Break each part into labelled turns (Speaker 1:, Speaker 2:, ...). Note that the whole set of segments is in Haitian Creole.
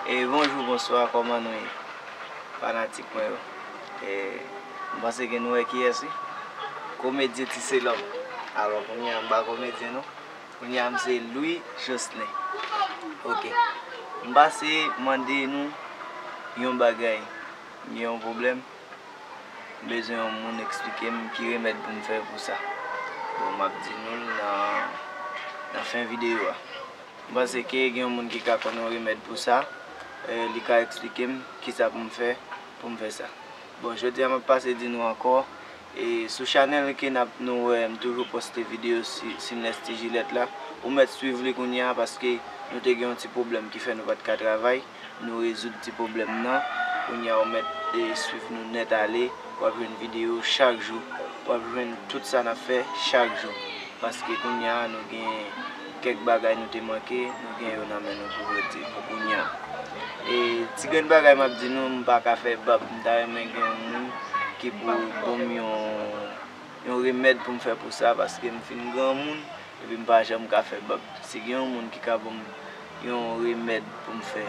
Speaker 1: Bonjou bonswa kòman nou ye fanatik mwen yo m panse ke nou wè kiyès wi komedyen Tiselòm alò kounye a m pa komedyen non kounye a m se Louis Joslen ok m pase mande nou yon bagay m gen yon pwoblèm m bezwen yon moun eksplike m ki remèd pou m fè pou sa bon m ap di nou l nan fen videyo a. M panse ke gen yon moun ki ka konnen yon remèd pou sa, li ka eksplike m kisa pou m fè pou m fè sa. Bon jodi a m ap pase di nou ankò e sou chanèl ke n ap nou wè m toujou poste videyo Sinlès Ti Jilèt la, ou mèt swiv li kounya paske nou te gen yon ti pwoblèm ki fè nou pa t ka travay. Nou rezoud ti pwoblèm nan, kounya ou mèt swiv nou nèt ale, wap jwenn video chak jou, wap jwenn tout sa nap fè chak jou, paske kounya nou gen kèk bagay nou te manke, nou gen yo nan men nou pou rete pou kounya. E ti grenn bagay map di nou, m paka fè bab, m ta renmen gen yon moun ki pou bonm yon yon remèd poum fè pou sa, paske m fin granmoun epi m pa janm ka fè bab, si gen yon moun ki ka bonm. Yon remèd poum fè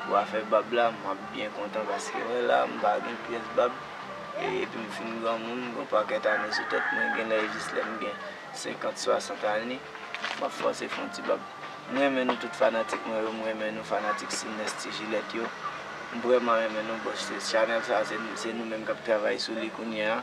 Speaker 1: pou afè bab la map byen kontan paske wè la mpa gen pyès bab epim fin granmoun gon pakèt ane sou tèt mwen genlè jis lèm gen 50 60 ane map fòse fon ti bab m renmen nou tout fanatik mwen yo m renmen nou fanatik Cines ti jilèt yo m vrèman renmen nou bòs channel sa se nou menm kap travay sou li kounyea.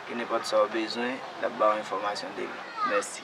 Speaker 1: Ke nenpòt sa ou bezwen, l ap ba ou enfòmasyon de li. Mèsi.